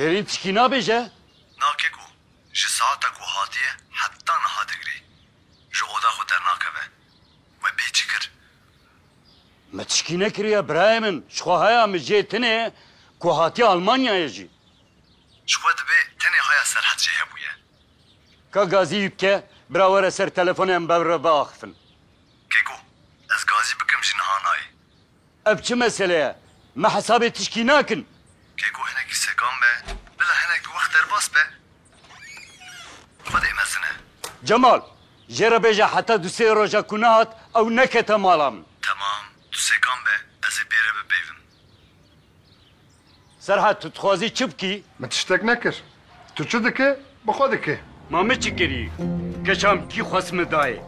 Hêrîn tişkî nabêje? Na keko, ji saeta ku hatiye heta niha digirê, ji oda xwe dernakeve. We bê çi kir? Me tişkî nekiriye birayê min, ji xwe haya min jê tune ku hatiye Almanyayê jî. Ji xwe dibe tenê haya Serhet jê hebûye. Ka gazî yû bike, bira were ser telefonê em bevre biaxifin. Keko, ez gazî bikim ji niha nayê. Ev çi mesele ye? Me hesabê tişkî nakin. Keko hinekî sekan be, bila hinek bi wext derbas be. Xwedê mezin e. Cemal, jê re bêje heta du sê roja ku nehat ew nekete mala min. Temam, tu sekan be, ez ê bê re bipeyvim. Serhat, tu dixwazî çi bikî? Min tiştek nekir. Tu çi dikî, bi xwe dikî. Ma min çi kirî? Keşan bikî xwest min dayê.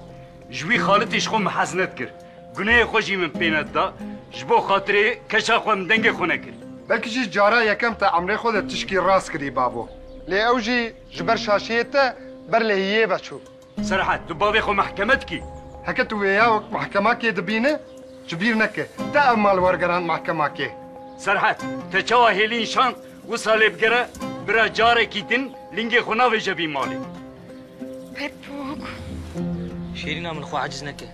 Ji wî xalitî ji xwe min hez nedikir. Gunehê xwe jî min pê nedida. Ji bo xatirê keşa xwe min dengê xwe nekir. Belkî jî cara yekem te emrê xwe de tişkî rast kirî babo. Lê ew jî ji ber şaşiyê te ber lehiyê ve çû. Serhat, tu bavê xwe mehkeme dikî. Heke tu wê ya wek mehkemakê dibîne, ji bîr neke. Te ev mal wergerand mehkemakê. Serhat, te çawa hêliyên şand wisa lê bigere, bira carekî din lingê xwe navêje vî malê. Pepûk. Şêrîna min xwe eciz neke.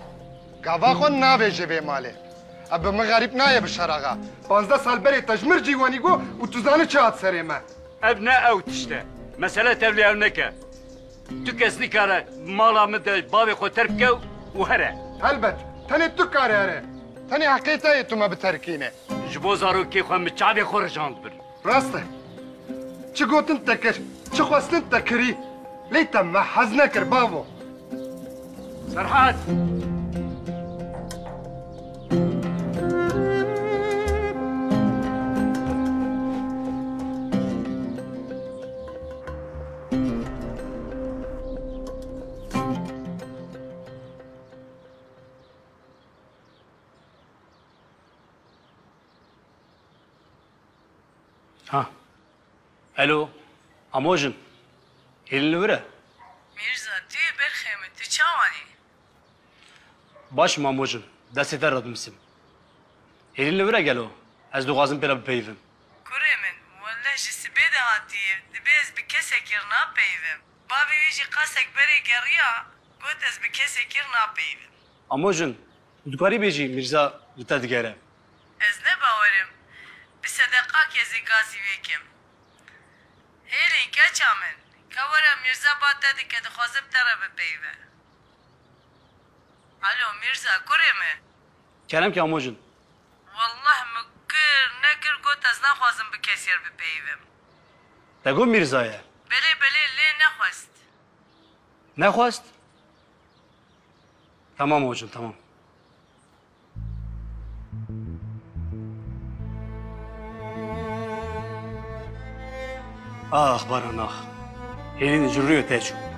Gava xwe navêje vê malê. Ev bi min xerîb nayê Bişar axa. Pazdeh sal berê te ji min cîwanî got û tu zanî çi hat serê me. Ev ne ew tişt e. Mesele tevlihev neke. Tu kes nikare mala min de bavê xwe terk bike û here. Helbet, tenê tu kare here. Tenê heqê te ye tu me biterkîne. Ji bo zarokê xwe min çavê xwe rijand bin. Rast e. Çi gotin te kir, çi xwestin te kirî. Lê te me hez nekir bavo. Serhat! Ha. Elo. Amojin. Hêlin li wir e? Mîrza, tu yê berxê min, tu çawan î? Baş im Amojin, destê te re dimisîm. Hêlin li wir e gelo? Ez dixwazim pê re bipeyivim. Kurê min, welleh ji sibê de hatiye, dibê ez bi kesekî re napeyivim. Bavê wî jî qasek berê geriya, got ez bi kesekî re napeyivim. Amo jin, tu dikarî bêjî Mîrza li te digere. Ez ne bawerim bi sedeqa ke zê gazî wê kim. Hêrî keça min, ke were Mîrza ba te dike dixwaze bi te re bipeyive. Alo Mîrza, kurê min. Kerem ki Amo jin, Wallah min kir nekir got ez naxwazim bi kesyer bipeyivim. Te got Mîrza ye? Belê belê lê nexwest. Nexwest? Tamam ocim tamam. Ax baran ax. Hêlîn ji rûyê te çû.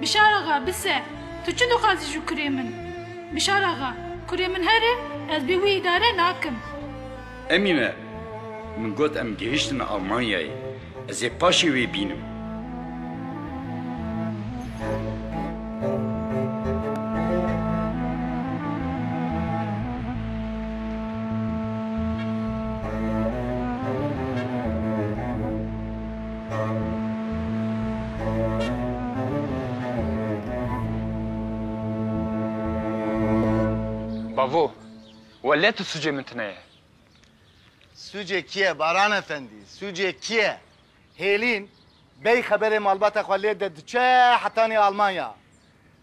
Bişar axa, bise, tu çi dixwazî ji kurê min? Bişar axa, kurê min here, ez bê wî îdare nakim. Emîne, min got em gehîştin Almanyayê, ez ê paşê wê bînim. Bavo, wele tu sucê min tine ye. Sucê kî ye Baran efendî, sucê kî ye? Hêlîn bey xeberê malbata xwe lê de diçe hetanî Almanya.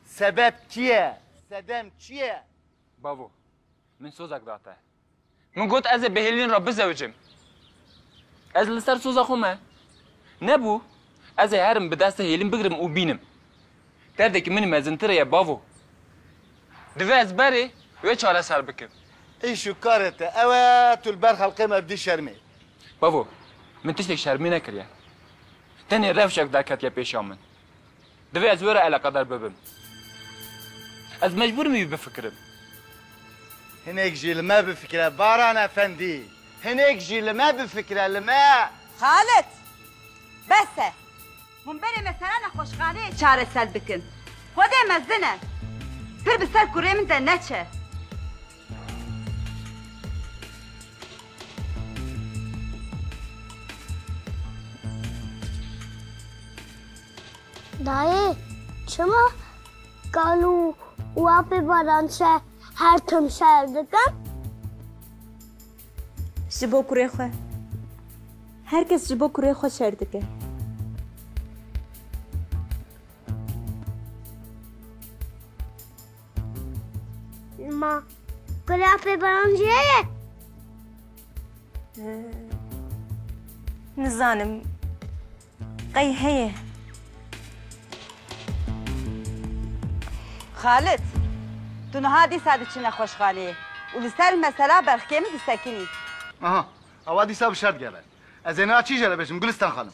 Sebep kî ye? Sedem çi ye? Bavo, min sozek date. Min got ez ê bi Hêlîn re bizewicim. Ez li ser soza xwe me. Nebû. Ez ê herim bi desta Hêlîn bigirim û bînim. Derdekî min mezintir ye bavo. Divê ez berê wê çareser bikim. Îş û karê te ew e, tu li ber xelkê me bidî şermê. Bavo, min tiştek şermê nekiriye. Tenê rewşek derketiye pêşa min. Divê ez wê re eleqedar bibim. Ez mecbûr im wî bifikirim. Hinek jî li me bifikire Baran efendî. Hinek jî li me bifikire, li me. Xalit! Bes e. Hûn berê me serana xweşxaneyê çareser bikin. Xwedê mezin e. Pir bi ser kurê min de neçe. Dayê çima kal û û apê baran çe her tim şer dikin? Ji bo kurê xwe. Her kes ji bo kurê xwe şer dike. Ma gulê apêbaran jî heye? Nizanim. Qey heye. Xalit, tu niha dîsa diçî nexweşxaneyê û li ser mesela berxkê min disekinî. Aha, ewa dîsa bi şer digere. Ez ê niha çî jê re bêjim Gulistan xanim?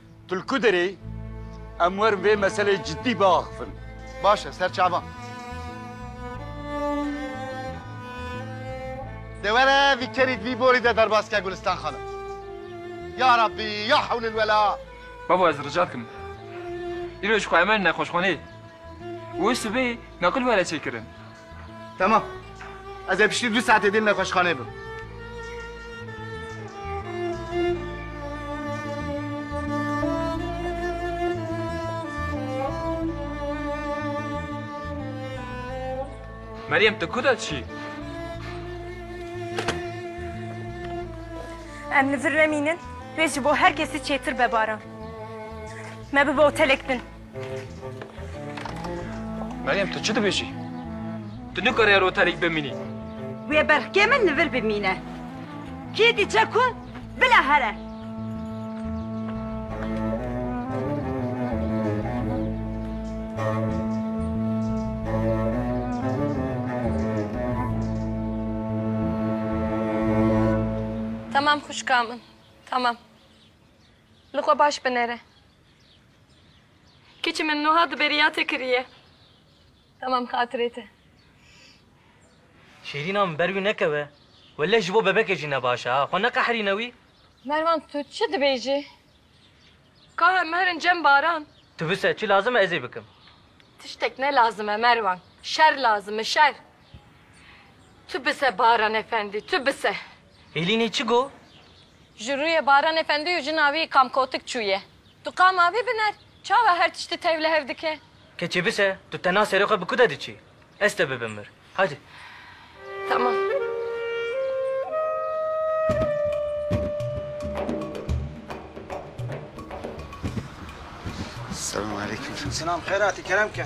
Tu li ku derê yî? Em werin vê meselê cidî biaxivin. Baş e ser çavan. Dê were vî kerî di vî borî de derbas ke Gulistan xanim. Ya Rabbî ya hewlil wela. Bavo ez rica dikim îro ji xwe emer nexweşxaneyê û wê sibê naqil were çêkirin. Tamam. Ez ê piştî du saetê din nexweşxanê bim. Meryem tu ku de çî? Em li vir remînin, rê ji bo her kesî çêtir be baran. Me bi bo otelek bin. Meryem tu çi dibêjî? Tu nikare yer otelêk bimînî. Wê berxkê min li vir bimîne. Kê diçe ku bila here. Tamam xwişka min, tamam. Li xwe baş binêre. Keçî min nuha di beriya te kiriye. Tamam xatirê te. Şêrîna min ber wî nekeve. Welleh ji bo bebekê jî ne baş e ha. Xwe neqehrîne wî. Mervan tu çi dibêjî? Ka em herin cem baran. Tu bise çi lazim e ez ê bikim. Tiştek ne lazim e Mervan. Şer lazim e şer. Tu bise Baran efendî tu bise. Hêlînî çi got? Ji rûyê Baranê Fendî û jina wî kamkotik çûye. Tu qama wî biner? Çawa her tiştî teyw li hev dike? Keçê bise, tu tena serê xwe bi ku de diçî? Ez te bibim vir. Hadi. Tamam. Selamû aleykûm. Selam, xeyr hatî kerem ke.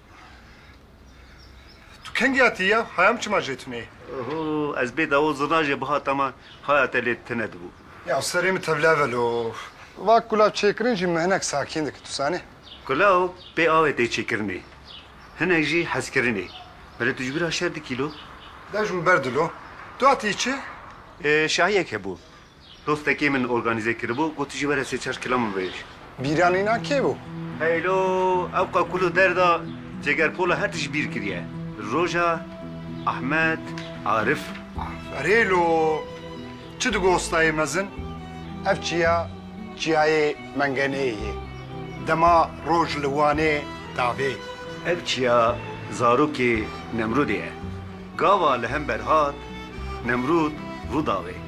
Tu kengiya tî ya? Haya em çima jê tunê? Ho, ez bê dawo zirna jê bihata me, haya te lê tune dibû. Ya serê min tevliya velo. Va kulav çêkirin jî min hinek sakîn dike, tu zanî. Kulav pê avê tê çêkirinê, hinek jî hezkirinê. Belê tu ji bîra şer dikî lo? Dev ji min berdilo. Tu hatiyî çi? Şahiyek hebû. Dostekê min organîze kiribû, got tu jî were sê çar kila min vehêj. Bîranîna kê bû? Heylo, ew ka kul û derda cegerpola her tişt bîr kiriye. Roja Ahmet Arif. Aferêlo! Çi digo ostayê mezin? Ev çiya çiyayê Mengeneyê ye. Dema roj li Wanê davê. Ev çiya zarokê Nemrûdê ye. Gava li hember hat, Nemrûd rû davê.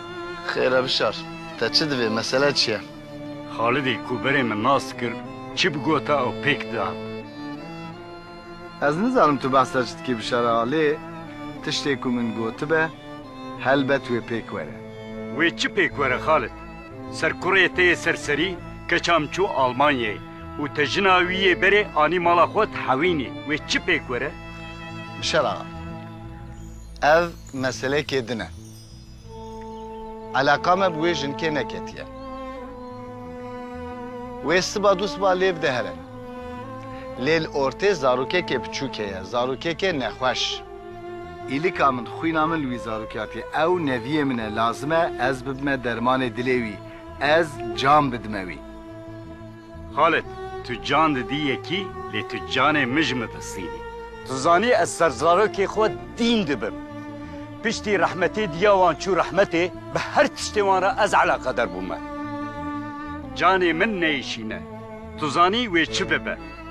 Xêr e bişar. Te çi divê? Mesele çi ye? Xalidê ku berê min nas kir çi bigota ew pêk dihat. Ez nizanim tu behsa çi dikî bişar a lê tiştê ku min gotibe helbet wê pêk were. Wê çi pêk were Xalid? Serkurê te yê serserî keça min çû Almanyayê û te jina wî yê berê anî mala xwe di hewînê. Wê çi pêk were? Bişar axa. Ev meselekê din e. Eleqa me bi wê jinkê neketiye. Wê siba du siba lêv de here. Lê li ortê zarokekê piçûk heye, zarokekê nexweş. Îlika min, xwîna min li wî zarokiyatî, ew neviyê min e, lazim e ez bibime dermanê dilê wî, ez can bidime wî. Xalid, tu can didî yekî lê tu canê min ji min ristînî. Tu zanî ez ser zarokê xwe dîn dibim. Piştî rehmetê diya wan çû rehmetê, bi her tiştê wan re ez eleqeder bûme. Canê min neyişîne. Tu zanî wê çi bibe.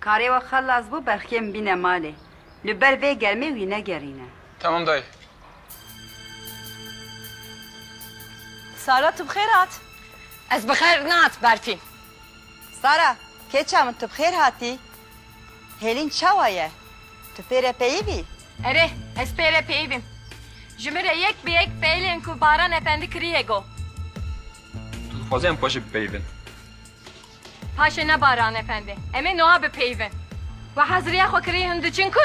Karê we xelas bû Berxiyê min bîne malê. Li ber vê germê wî negerîne. Tamam dayê. Sara tu bi xêr hat. Ez bi xêr nehat Berfîn. Sara, keça min tu bi xêr hatî. Hêlîn çawa ye? Tu pê re peyî bî? Erê, ez pê re peyî bîm. Ji min re yek bi yek peylên ku Baran Efendi kiriye got. Tu dixwazî em xwe jî bipeyivin? Paşê ne Baran Efendi. Em ê nuha bipeyivin. We hezirîya xwe kirî hûn diçin ku?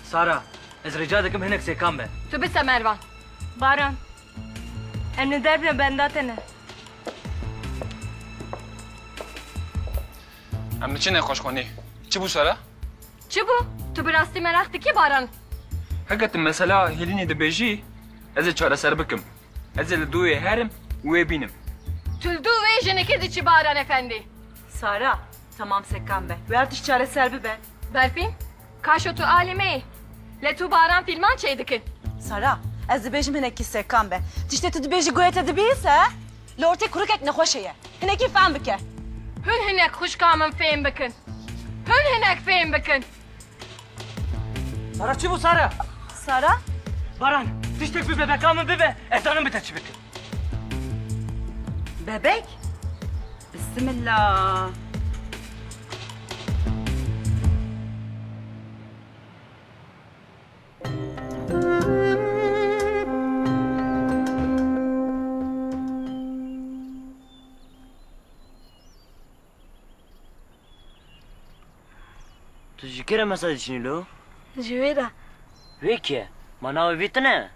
Sara, ez rîca dikim hinek sêkan be. Tu bise Mervan. Baran, em li derve benda te ne. Em diçin nexweşxanê. Çi bû Sara? Çi bû? Tu bi rastî meraq dikî Baran? Heke tu mesela Hêlînê dibêjî, ez ê çareser bikim. Ez ê li dû wê herim û wê bînim. Tu li dû wê jinekê diçî Baran Efendî. Sara, Temam sekan be. Wê her tişt çareser bibe. Berfîn, Kaşo tu alî me yî. Lê tu Baran fîlman çêy dikin. Sara, Ez dibêjim hinekî sekan be. Tiştê tu dibêjî goya te dibihîse he? Li ortê kurikek nexweşê ye. Hinekî fehm bike. Hûn hinek xwişka min fêm bikin. Hûn hinek fêm bikin. Sara çi bû Sara? Sara? Baran, tiştek bi bebeka min bibe, ez zanim bi te çi bikim. Bebek? Bismillah. Tu ji kê re mesa diçinî lo? Ji wê re. Wê kî ye? Ma navê vî tune?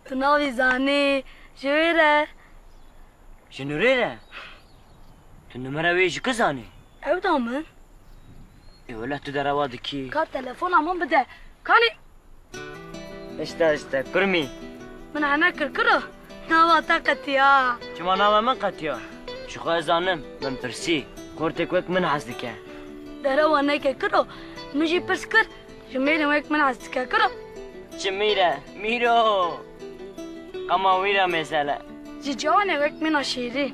Tu navê zanî? Ji wê re. Ji nûrê re? Tu numera wê ji ku zanî? Ew da min. Ê wele tu derewa dikî. Ka telefona min bide. Kanê. Hişta hişta kurmî. Min hene kir kiro. Nava te qetiya. Çima nava min qetiya? Ji xwe ez zanim. Min pirsî. Xortêk wek min hez dike. Derewa neke kiro. Min jî pirs kir. Ji mêrên wek min hez dike kiro. Çi mîr e? Mîro. Qema wîr e mêzele. Ji ciwanê wek mîna şîrîn.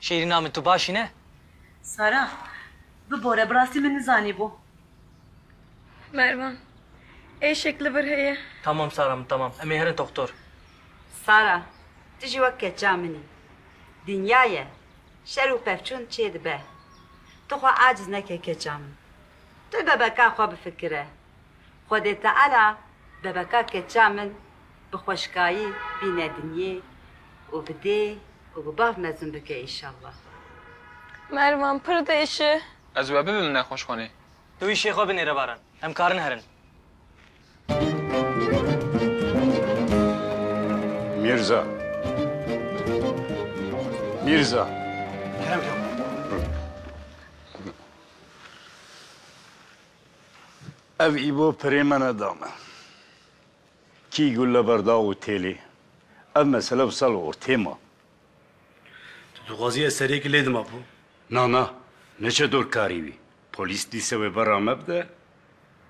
Şêrîna min tu baş î ne? Sara, bibore bi rastî min nizanîbû. Mervan, êşek li vir heye. Tamam Sara min tamam. Em ê herin doxtor. Sara, tu jî wek keça min î. Dinya ye, şer û pevçûn çêdibe. Tu xwe aciz neke keça min. Tu bebeka xwe bifikire. Xwedê Teala bebeka keça min bi xweşkayî bîne dinyê û bi dê û bi bav mezin bike înşallah. Mervan pir dêş e. Ez we bibim nexweş xwenê. Tu îşê xwe binêre Baran. Em karin herin. Mîrza. Mîrza. Kerem çawa? Ev îbo pirê me ne da me. Kî gule berda û têlê. Ev mesele wisa li ortê ma. Tu dixwazî ez seriyekî lê dima bo? Na na, neçe dor karî wî. Polîs dîse wê berra me bide,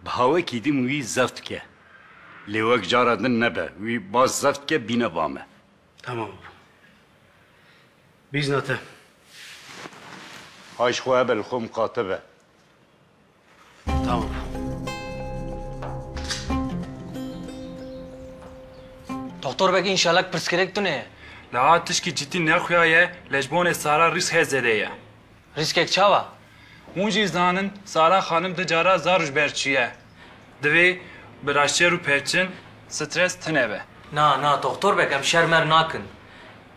bi hawekî din wî zef dike. Lê wek cara din nebe, wî baz zef dike bîne ba me. Temam bo. Bîzna te. Hay ji xwe hebe li xwe miqate be. Tamam. Doktor vekî înşallah pirsgirêk tune ye. Leha tişkî cidî nexuyaye lê ji bonê Sara rîskê zêde ye. Rîskek çawa? Hûn jî zanin Sara xanim di cara zar û ji ber çiye. Divê bi raştçêr û pêçin stres tune be. Na, na doktor vek em şer mer nakin.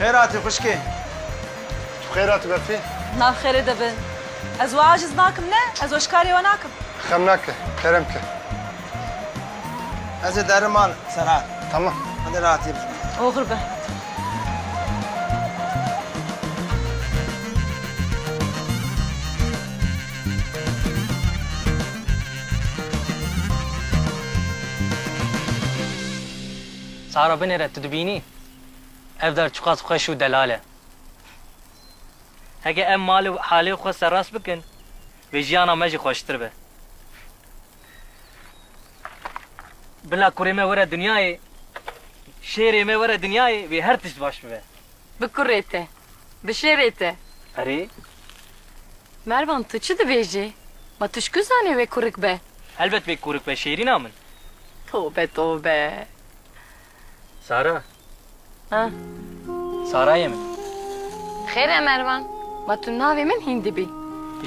Xêr hatî xwişkê. Tu xêr hatî Berfî. Nav xêrê de bin. Ez we aciz nakim ne, ez we ji karê we nakim. Xem nake, kerem ke. Ez ê derim mal Serhat. Tamam. Hadi rahatî bijî. Oxir be hadi. Sara binêre tu dibînî. Ev dar çiqas xweş û delal e. Heke em mal û halê xwe serrast bikin, vê jiyana me jî xweştir be. Bila kurê me were dinyayê, şêrê me were dinyayê, vê her tişt baş bibe. Bi kurê te, bi şêrê te. Erê. Mervan tu çi dibêjî? Ma tu ji ku zanî wê kurik be? Helbet wê kurik be şêrîna min. Tobe tobe. Sara. Ha. Sarayê min. Xêr e Mervan. Ma tu navê min hîndî bî.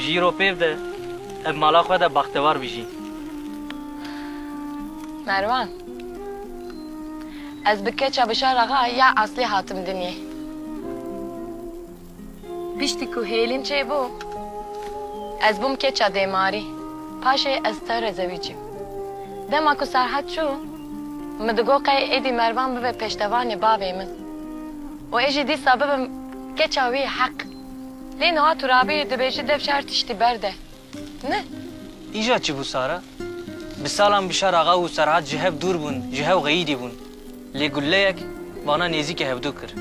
Jî ro pêv de ev mala xwe de baxtewar bî jî. Mervan. Ez bi keça Bişar axa ya eslê hatim dinyê. Piştî ku hêlîn çêbû, ez bûm keça dêmarî, paşê ez tewrê zewî çûm. Dema ku Serhat çû, min digot qey êdî Mervan bibe pêştevanê bavê min û ê jî dîsa bibim keça wî heq. Lê niha Turabî dibêjî dev çar tiştî berde. Ni? Îja çi bû Sara? Bi salan Bişar Axa û Serhat ji hev dûr bûn, ji hev xeyîdî bûn. Lê guleyek vana nêzîkê hevdu kir.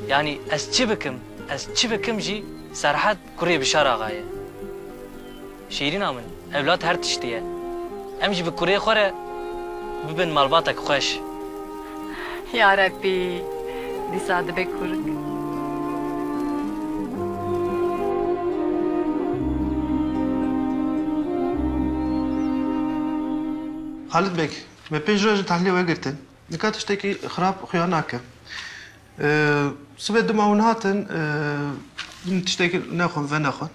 Yanî ez çi bikim, ez çi bikim jî Serhat kurê Bişar Axa ye. Şîrîna min, ewlad her tiştî ye. Em jî bi kurê xwe re bibin malbatek xweş. Yarebbî dîsa dibe kurg. Halit Beg, me pênc roj li tahlîlê we girtin. Nika tiştekî xirab xuya nake. Sibê dima hûn hatin, min tiştekî nexwend ve nexwend.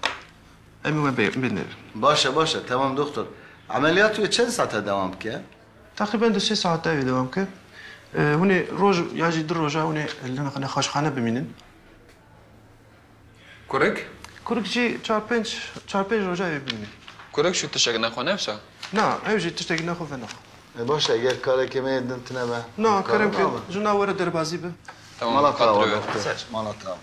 Em ê we bê bênêrin. Baş e, baş e. Temam doktor. Emeliyatê wê çend sate dewam bike? Teqrîben du sê saet ew ê dewam bike. Hûn ê roj ya jî du roja hûn ê li nexweşxane bimînin. Kurik? Kurik jî çar pênc çar pênc roja ew ê bimîne. Kurik jî tiştek nexwe ne wisa? Na, ew jî tiştek nexwe ve naxe. E baş e, ger karekê me yê din tune be? Na, kerem ke jina were derbazî be. Mala te ava doktor. Mala te ava.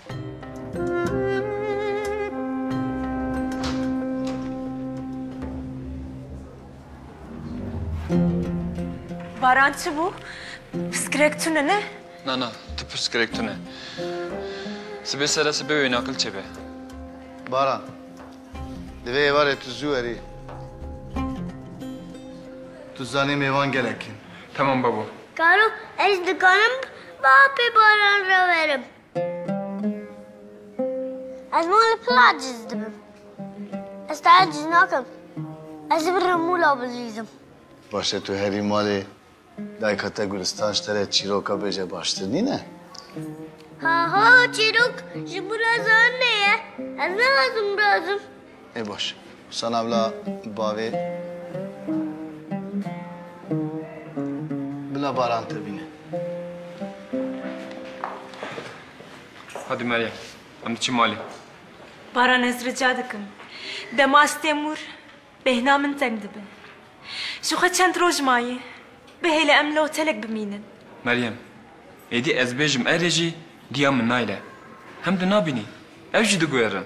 Baran çi bû? Piskirek tune ne? Na na, tu piskirek tune. Sibê sere sibê wê naqil çêbe. Baran, di vê êvarê tu zû erî. Tu zanî mêvan gelek in. Tamam babo. Karo, ez dikarim bi apê baran re werim? Ez wan li pil aciz dibim. Ez te aciz nakim. Ez ê birim mûla bilîzim. Baş e tu herî malê dayika te Gulistan ji te re çîroka bêje baştir nîne? Haha çîrok ji min re zanînê ye. Ez nixwazim birazim. Ê baş. Sana bila bavê bila baran te bîne. Hadi Meryem. Em diçin malê. Baran ez rica dikim. Dema ez têm wir bêhna min teng dibe. Ji xwe çend roj maye. Bihêle em li otelek bimînin. Meryem. Êdî ez bêjim erê jî giya min nayre. Hem tu nabînî. Ew jî diguherin.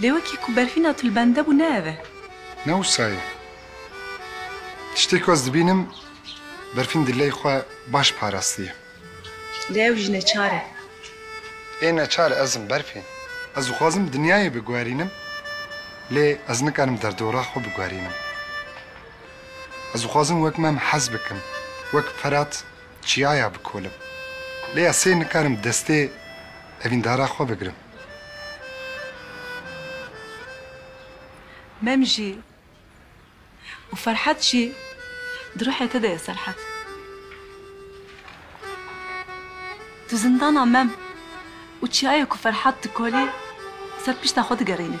Lê wekî ku berfîna tu li bende bû ne ev e. Ne wisa ye. Tiştê ku ez dibînim berfîn dileyê xwe baş parastiye. Lê ew jî neçar e. Ê neçar ez im berfîn. Ez dixwazim dinyayê biguherînim lê ez nikarim derdora xwe biguherînim. Ez dixwazim wek mem hez bikim, wek Ferat çiyaya bikolim. Lê ez sê nikarim destê evîndara xwe bigirim. Mem jî û Ferhat jî di ruhê te de ye Serhat. Tu zindana mem û çiyayê ku Ferhat dikolî ser pişta xwe digerînî.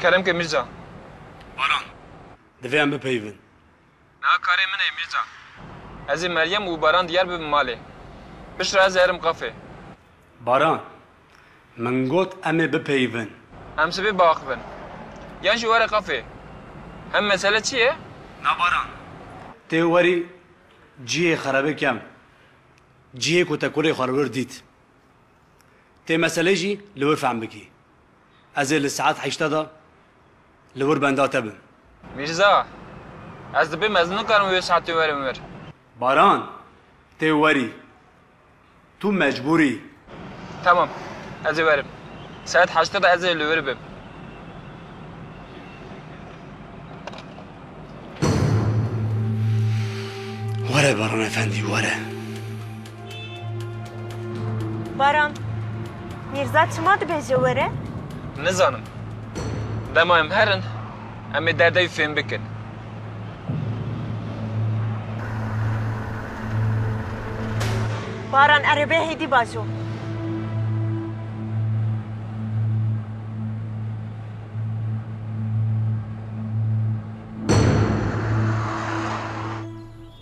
Kerem ke Mirza. Baran. Divê em bipeyivin. Niha karê min ê Mirza. Ez ê Meryem û Baran diyar bibin malê. Piştre ez ê herim qafê. Baran. Min got em ê bipeyivin. Em sibê biaxivin. Yan jî were kafê. Hem mesele çi ye? Na baran. Tê werî cihê xerebe kem. Cihê ku te kurê xwe li wir dît. Tê meselê jî li wir fehm bikî. Ez ê li saet heşta de li wir benda te bim. Mîrza, ez dibim ez nikarim wê saetê werim wir. Baran, tê werî. Tu mecbûr î. Tamam, ez ê werim. Saet heştê de ez ê li wir bim. Were Baran efendî, were. Baran, Mîrza çima dibêje were? Nizanim. Dema em herin, em ê derdê wî fêm bikin. Baran erê bê hêdî bajo.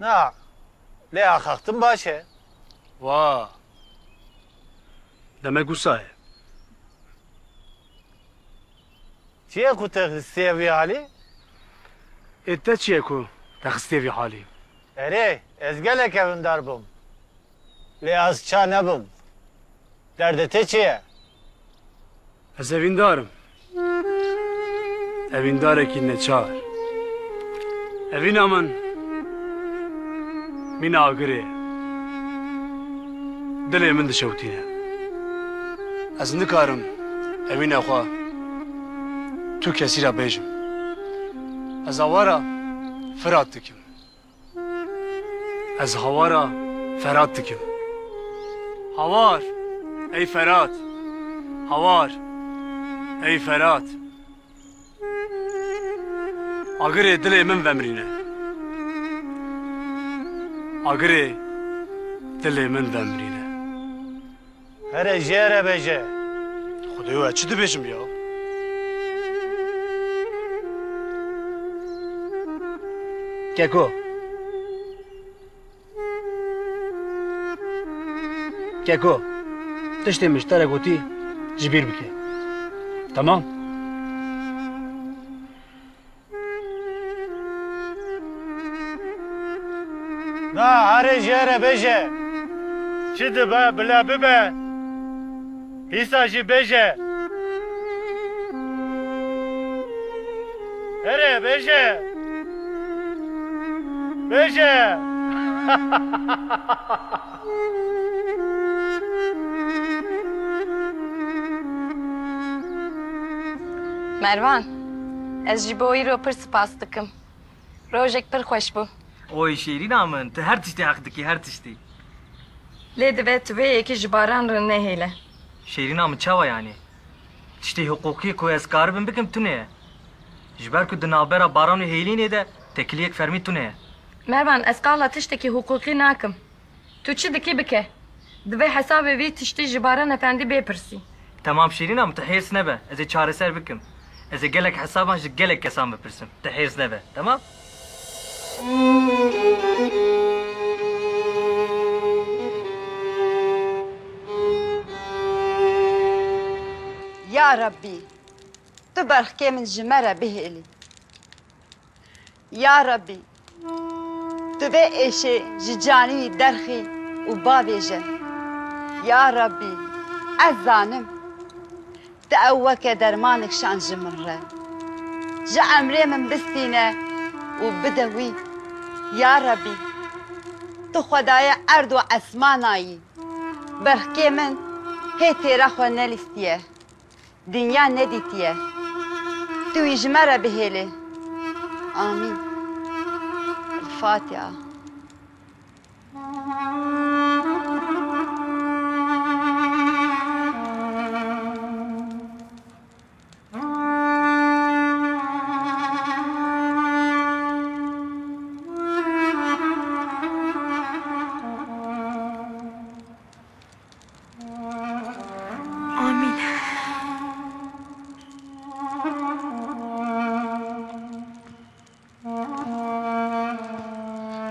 Na, lê axaxtin baş e. Wa. Demek wisa ye. Çi ye ku te xistiye vî halî? Ê te çi ye ku te xistiye vî halî? Erê, ez gelek ewindar bûm. Lê ez ça nebim. Derdê tê çi ye? Ez evîndar im. Evîndarekî neçar. Evîna min mîna agirê ye. Dilê min dişewitîne. Ez nikarim evîna xwe tu kesî re bêjim. Ez awara Firat dikim. Ez hawara Ferhat dikim. Hawar! Ey Ferhat! Hawar! Ey Ferhat! Agirê dilê min vemrîne. Agirê dilê min vemrîne. Here jê re bêje. Xwedêyo ez çi dibêjim ya? Keko. Keko. Tiştê min ji te re gotî ji bîr bike. Temam? Na herê jêre bêje. Çi dibe bile bibe. Hîsa jî bêje. Herê bêje. Bêje. Mervan, ez ji bo îro pir sipas dikim. Rojek pir xweş bû. Oy şêrîna min, tu her tiştê heq dikî, her tiştê. Lê dibe tu vê yekî ji Baran re nehêle. Şêrîna min çawa yanî? Tiştê hiqûqî ku ez karibim bikim tune ye. Ji ber ku di navbera Baran û Hêlînê de tekiliyek fermî tune ye. Mervan, Ez qala tiştekî hiqûqî nakim. Tu çi dikî bike. Divê hesabê vî tiştî ji Baran Efendî bêpirsî. Temam Şîrîn a min, tu hêrs nebe. Ez ê çareser bikim. Ez ê gelek hesaban ji gelek kesan bipirsim. Tu hêrs nebe. Temam? Ya Rabbî! Tu berxkê min ji me re bihêlî. Ya Rebî! Tu vê êşê ji canî derxî û bavêje, Ya Rebî! Ez zanim Tu ew weke dermanê kişand ji min re. Ji emrê min bistîne û bide wî, Ya Rebî! Tu Xwedayê erd û esmana yî, berxkê min hê têra xwe nelîstiye. Dinya nedîtiye. Tu wî ji me re bihêlê. Amîn. Fatiha. Amîn.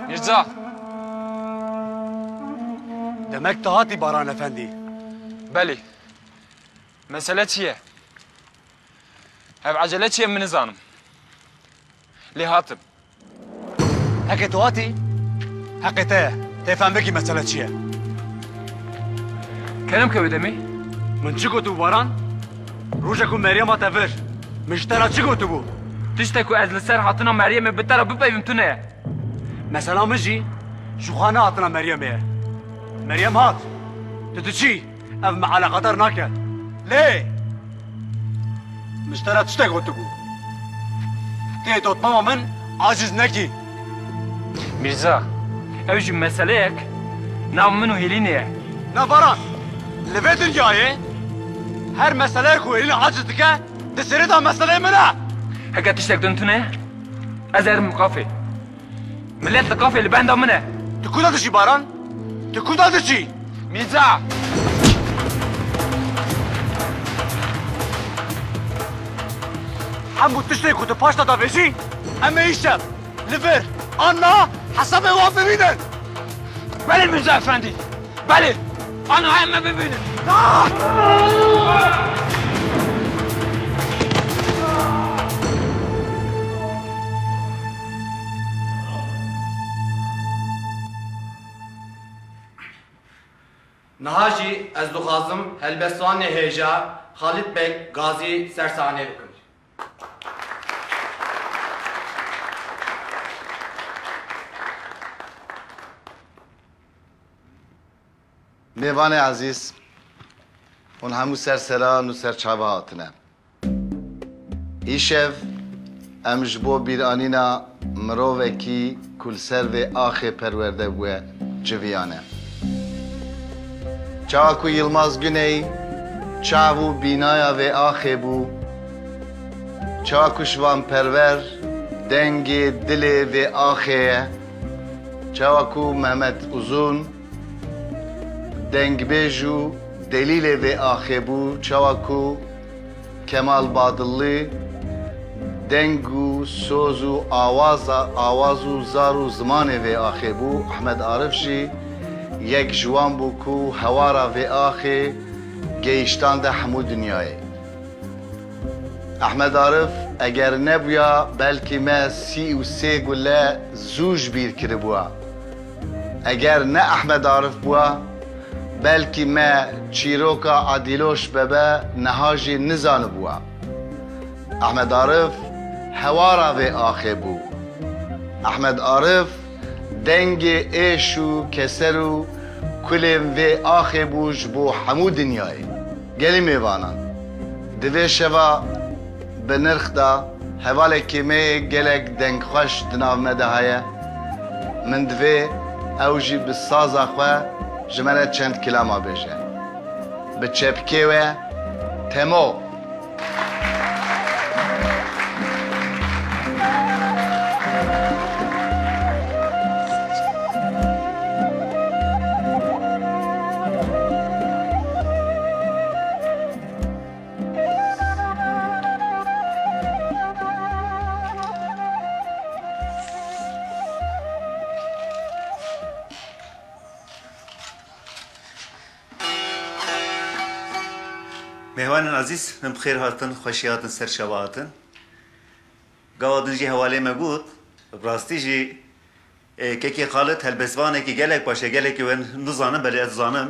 Mîrza! Demek tu hatî Baran Efendî. Belê. Mesele çi ye? Hev ecele çi ye min nizanim. Lê hatim. Heqê to hatî, heqê te ye. Tê fem bikî mesele çi ye. Kerem ke wê demê? Min çi gotibû Baran? Roja ku Meryem hate vir, min ji te re çi gotibû? Tişte ku ez li ser hatina Meryemê bi te re bipeyivim tune ye. Mesela min jî ji xwe ne hatina Meryemê ye. Meryem hat, tu diçî. Ev me eleqedar nake. Lê min ji te re tiştek gotibû. Tê dotmama min aciz nekî. Mîrza, ew jî meseleyek nav min û Hêlînê ye. Na Baran, li vê dinyayê her meseleyê ku Hêlîn aciz dike di sêrêda meseleyê min e. Heke tiştek din tune, ez erim mixafê. Milet li kafê li benda min e. Tu kuda diçî Baran? Tu kuda diçî? Mîrza! Hemû tiştê ku tu paşta davêjî em ê îşev li vir an na hesabê wan bibînin. Belê Mîrza efendî! Belê! Aniha em me bibînin. Niha jî ez dixwazim helbestvanê hêja Xalît Beg Gazî ser sahneyê bikim. Mêvanê ezîz, hûn hemû ser seran û ser çavi hatine. Îşev em ji bo bîranîna mirovekî ku li ser vê axê perwerde bûye civiyane. Çawa ku Yilmaz Guney çav û bînaya vê axê bû, çawa ku Şivan Perwer dengê, dilê vê axê ye, çawa ku Mehmet Uzun, Dengbêj û delîlê vê axê bû çawa ku Kemal Badilli deng û soz û awaza awaz û zar û zimanê vê axê bû, Ehmed Arif jî yek ji wan bû ku hewara vê axê geyiştande hemû dinyayê. Ehmed Arif eger nebûya belkî me sî û sê gule zû ji bîr kiribûa. Eger ne Ehmed Arif bûa, belkî me çîroka Adîloş Bebe niha jî nizanibûa. Ehmed Arif hewara vê axê bû. Ehmed Arif dengê êş û keser û kulên vê axê bû ji bo hemû dinyayê. Gelî mêvanan di vê şeva. Bi nirx da, hevalê kêmeyê gelek dengxweş di nav me de heye. Min divê ew jî bi saza xwe ji me re çend kilama bêje. Bi çepkê we Temo! Mêhwanên ezîz min bi xêr hatin, xweşî hatin ser şeva hatin. Gawa din jî hewalê me got, bi rastî jî Kekê Xalid helbestvanekî gelek baş e, gelekî wen nizanim belê ez dizanim.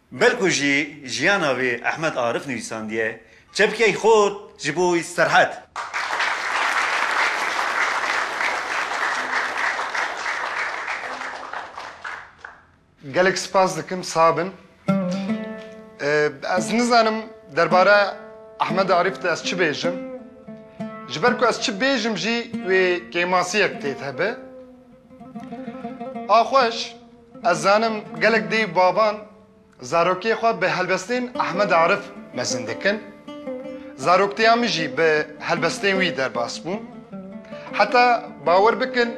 Bel ku jî jiyana wî Ehmed Arif nivîsandiye, çepkeyê xwe ji bo wî Serhet. Gelek spas dikim sax bin. Ez nizanim derbare Ehmed Arif de ez çi bêjim. Ji ber ku ez çi bêjim jî wê kêmasiyek tê tebe. A xweş. Ez zanim gelek dê û baban zarokiyê xwe bi helbestên Ahmed Arif mezin dikin. Zaroktiya min jî bi helbestên wî derbas bû. Heta bawer bikin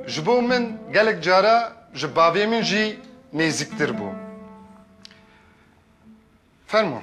ji bo min gelek cara ji bavê min jî nêzîktir bû. Fermo.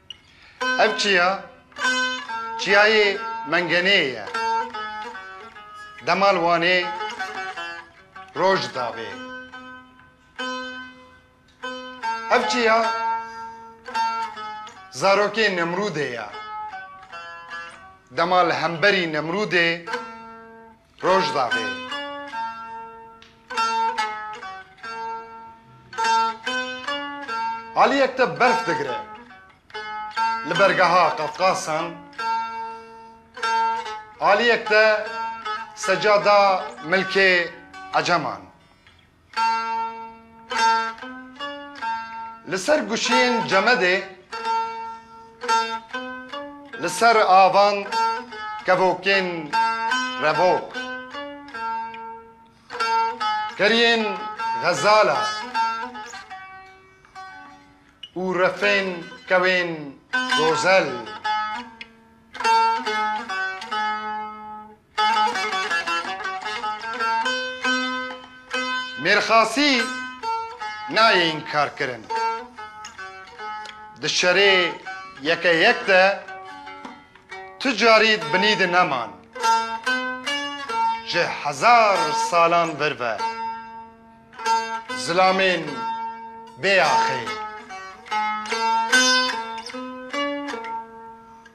Ev çiya çiyayê Mengeneyê ye. Demal Wanê roj dabê. Ev çiya zarokê Nemrûdê ye. Dema li hemberî Nemrûdê Rojdaxê. Aliyek te berf digire. Li bergeha Qafqasan aliyek te secada milkê Eceman. Li ser guşeyên cemedê li ser avan kevokên revok keriyên xezala û refên kewên gozel. Mêrxasî nayê înkarkirin. Di şerê yeke yek de tu carî binî di neman. Ji hezar salan vir ve zilamên bêaxê.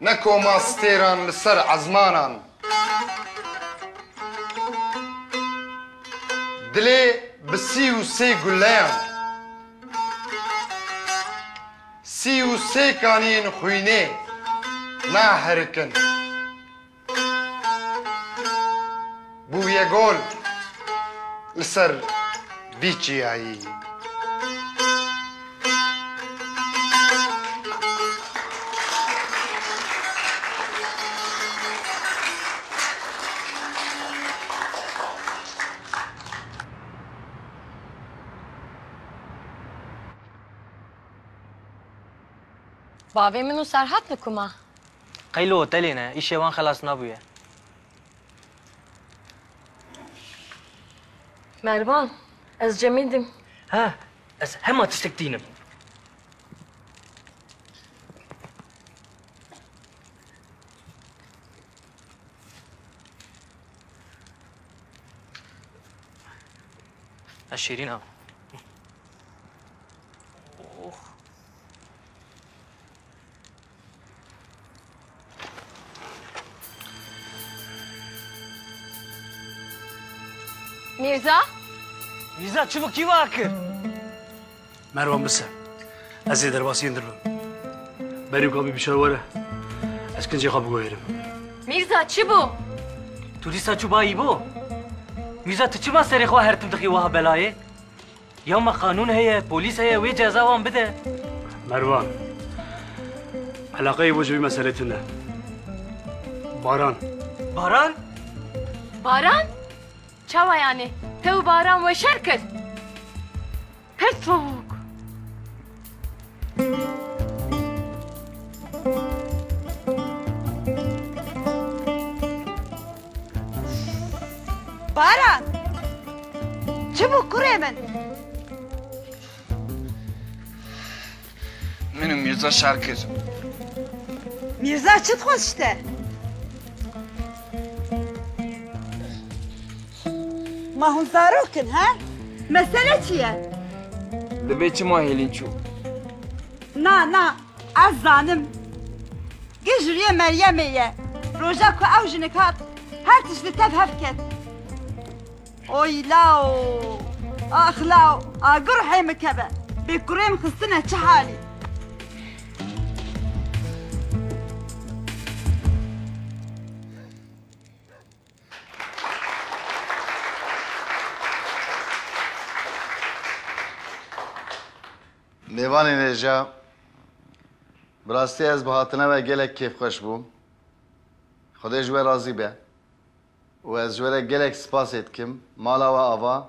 Ne koma stêran li ser ezmanan. Dilê bi sî û sê guleyan. Sî û sê kaniyên xwînê nahirikin. Bûye gol li ser vî çiyayî. Bavê min û Serhat li ku ma? Qey li hotelê ne, îşê wan xelas nabûye. Mervan, ez Cemîl im. Ha, ez hema tiştek tînim. Ez Şîrîn im. Mirza? Mirza çubuk kî vakir? Merwan bise. Ez ê derbasiyên dirbim. Berî ka bî bişar were. Ez kincê xwe bigoyerim. Mirza çi bû? Tu dîsa çû bayî bo? Mirza tu çima serê xwe her tim dixî wiha belayê? Ya me qanûn heye, polîs heye wê ceza wan bide. Mervan. Eleqeyê bo ji vî meselê tune. Baran. Baran? Baran? Çawa yanê? Te û Baran weşer kir? Pir soğuk. Baran! Çi bû kurê min? Min û Mîrza şer kir. Mîrza çi dixwest ji te? Ma hûn zarok in he? Mesele çi ye? Divê çima hêlîn çû? Na na ez zanim. Gijiriyê Meryemê ye. Roja ku ew jinik hat her tişt li tev hev ket. Oy law ax law agur hey min keve. Bê kurê min xistine çi halî. Mêvanên hêja, bi rastî ez bi hatina we gelek kêfxweş bûm. Xwedê ji we razî be û ez ji we re gelek spasê dikim. Mala we ava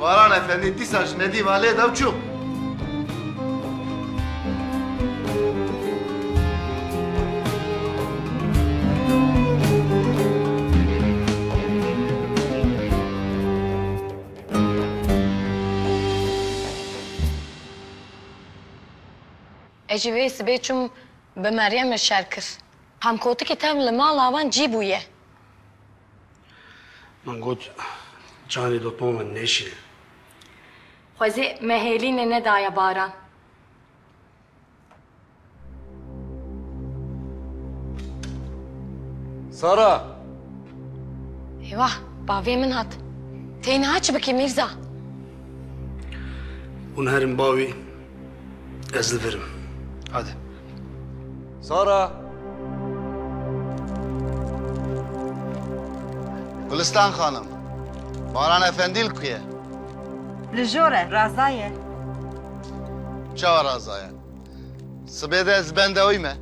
Baran Efendi dîsa ji Nedîma lê da û çû. Ez jî vê sibê çûm bi Meryem re şer kir. Hemkotikê tev li mala wan cî bûye. Min got canê dotma min nêşê. Xwezê me hêlînê nedaye baran. Sara! Eyvah, bavê min hat. Tey niha çi bikî Mîrza? Hûn herin bavê Ez li vir im. Hadi. Zara! Gulistan xanim, Baran Efendî li ku ye? Li jor e, raza ye. Çawa raza ye? Sibê de ez benda wî me.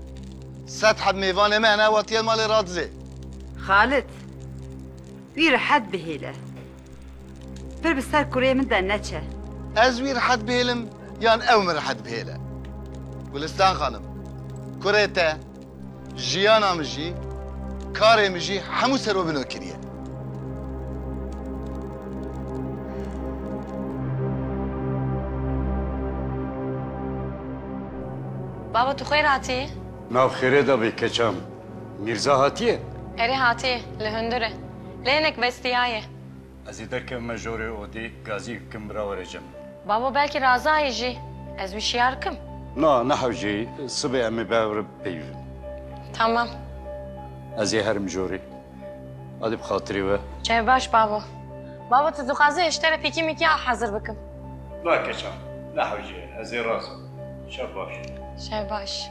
Sed heb mêvanê me hene, hatiye malê Radizê. Xalit, wî rehet bihêle. Pir bi ser kurê min de neçe. Ez wî rihet bihêlim yan ew min rihet bihêle? Gulistan xanim, kurê te jiyana min jî, karê min jî hemû serobino kiriye. Baba tu xêr hatî? Nav xêrê de bê keçan. Mîrza hatiye? Erê hatiye, li hundir e. Lê hinek bestiyaye. Ez ê derkevim me jorê odê, gazî bikim bira were cem min. Babo belkî razaye jî. Ez wî şiyar kim. Na, nehewcê, sibê em ê bevre bipeyivin. Tamam. Ez ê herim jorê. Adê bi xatirê we. Çav baş babo. Babo tu dixwazî ez ji te re pîkî mîkî a hezir bikim? Na keçan, nehewcê, ez ê razim. Çav baş. Çav baş.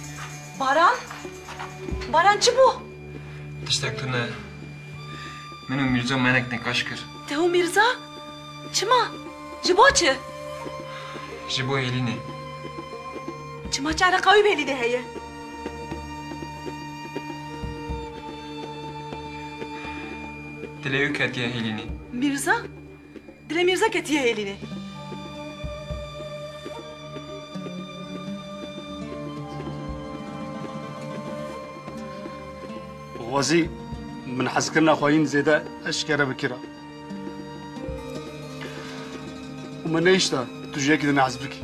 Baran? Baran çi bû? Tiştek tune. Min û Mîrza menek nekaş kir. Te û Mîrza? Çima? Ji bo çi? Ji bo Hêlînê. Çima çi eleqa wî bi Hêlînê heye? Dilê wî ketiye Hêlînê. Mîrza? Dilê Mîrza ketiye hêlînê. Xwezî min hezkirina xwe hîn zêde eşkere bikira. Û me nehişta tu ji yekî din hez bikî.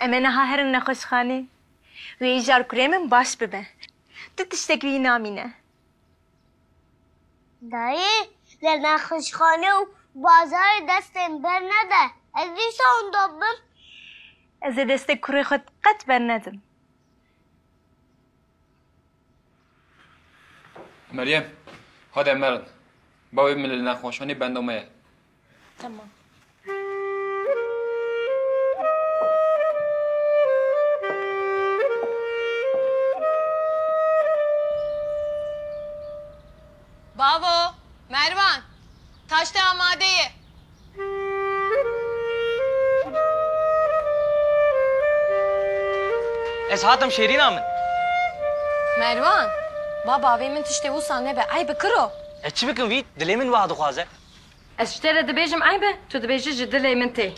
Em ê niha herin nexweşxanê. Wê îcar kurê min baş bibe. Tu tiştek wî namîne. Dayê, lê nexweşxane û bazarê destên bernede. Ez dîsa wenda bibim. Ez ê destê kurê xwe qet bernedim. Meryem, hade merin. Bavê min li nexweşxanê benda me ye. Tamam. Bavo, Mervan. Taşte amadeye. Ez hatim şêrîna min. Mervan, ba bavê min tiştê wisa nebe. Eyb bi kiro. Ez çi bikim vît? Dilê min wiha dixwaze. Ez ji te re dibêjim eyb e, tu dibêjî ji dilê min tê.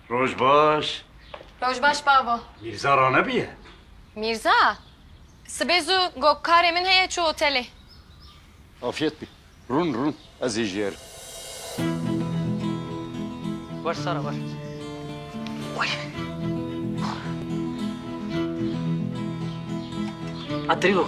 Roj baş. Roj baş babo. Mîrza ranebiye? Mîrza? Sibê zû got karê min heye çû otelê. Afiyet bî. Rûn rûn ez ê jêr. Wer Sara wer. Atirî gox.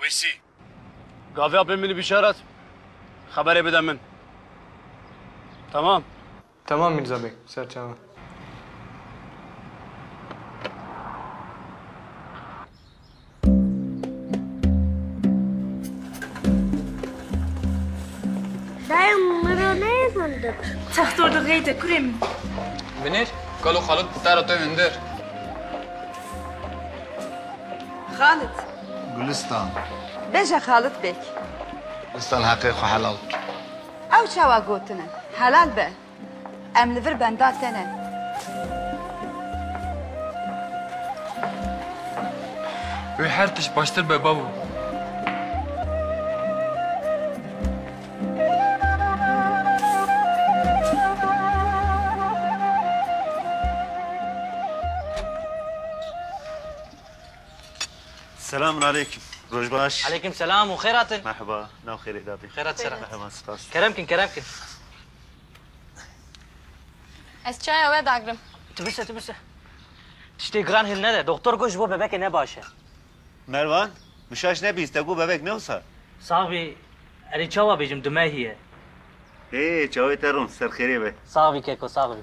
Wêsî. Gaviya pê min bişaret, xeberê bide min. Temam? Temam Mîrza bey, serçavan. Çextor de geyde kurê min. Binêr, kalo Xalit bi te re to hindir. Xalit. Gulistan. Bêje Xalit Bêk. Gulistan heqê xwe helal bike. Ew çawa gotin e? Helal be. Em li vir benda te ne. Wê her tişt baştir be babo. Selamun aleykum. Roj baş. Aleykum selam û xêr hatin. Merhaba. Nav xêrê da bî. Xêr hat sera. Merhaba, spas. Kerem kin, kerem kin. Ez çaya we dagrim. Tu bise, tu bise. Tiştê giran hêl nede. Doktor got ji bo bebekê ne baş e. Mervan, mişaş nebîst, te got bebek ne wisa? Sax bî. Erê çawa bêjim di me hî ye. Ê, çawê te rûn, serxêrê be. Sax bî keko, sax bî.